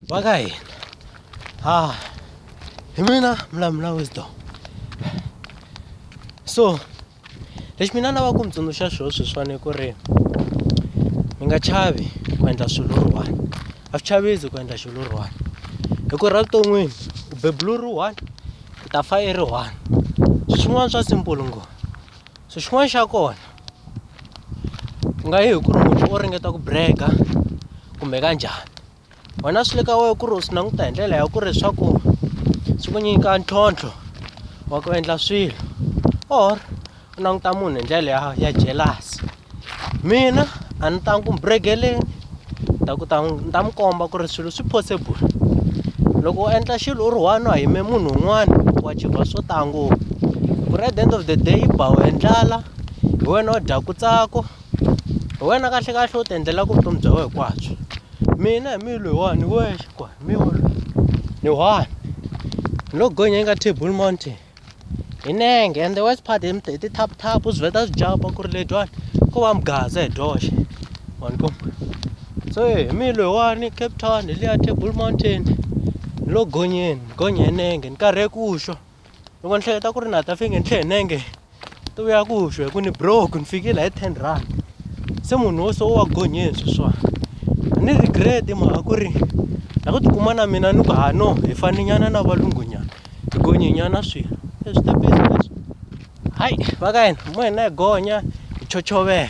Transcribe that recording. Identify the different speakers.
Speaker 1: Va ka hina ha hi mina Mlamula Wisdom so lexi mina na va ku mi tsundzuxa xo sweswiwani ku ri mi nga chavi ku endla swilo ri one a swi chavisi ku endla xilo ri one hi ku ra vuton'wini u bebulu ri one u ta fa i ri one swin'wana swa simple ngo so xin'wana xa kona ku nga yi hi ku ri munhu o ringeta ku brega kumbe ka njhani wena swi le ka wena ku ri u swi languta hi ndlela ya ku ri swa ku swi ku nyika ntlhontlho wa ku endla swilo or u languta munhu hi ndlela ya ya jealous mina a ni tangi ku mi bregeleni ta ku ta ni ta mi komba ku ri swilo swi possible loko u endla xilo u ri one a yime munhu un'wana wa chibva swo tala ngopfu ku ri at the end of the day yi ba wena ndlala hi wena u dyaku tsako hi wena kahle kahle u ti endlelaka vutomi bya wena hinkwabyo mina hi mi loyi wani wexe kwa hi mi wa loyi ni one ni lo gonya eka table mountain hi nenge and the worst part hi hi ti-tap-tap u swi vheta swi jumpa ku ri ledyiwani ko va mugaza hi dyoxe wani ku so hi mi loyiwani cape town hi liya table mountain ni lo gonyeni ni gonye hi nenge ni karhe ku xwa loko ni hleketa ku ri na ta fike ni tlhe hi nenge to vuya ku xwa hi ku ni broke ni fikile hi ten rand se munhu wo so wa gonyeni sweswani a ni regret mhaka ku ri na ku tikuma na mina ni ku hano hi faninyana na valungunyana Tigonyenyana swi e switepisi leswi hayi va ka hina hi ngoho hi na hi gonya hi chochovela.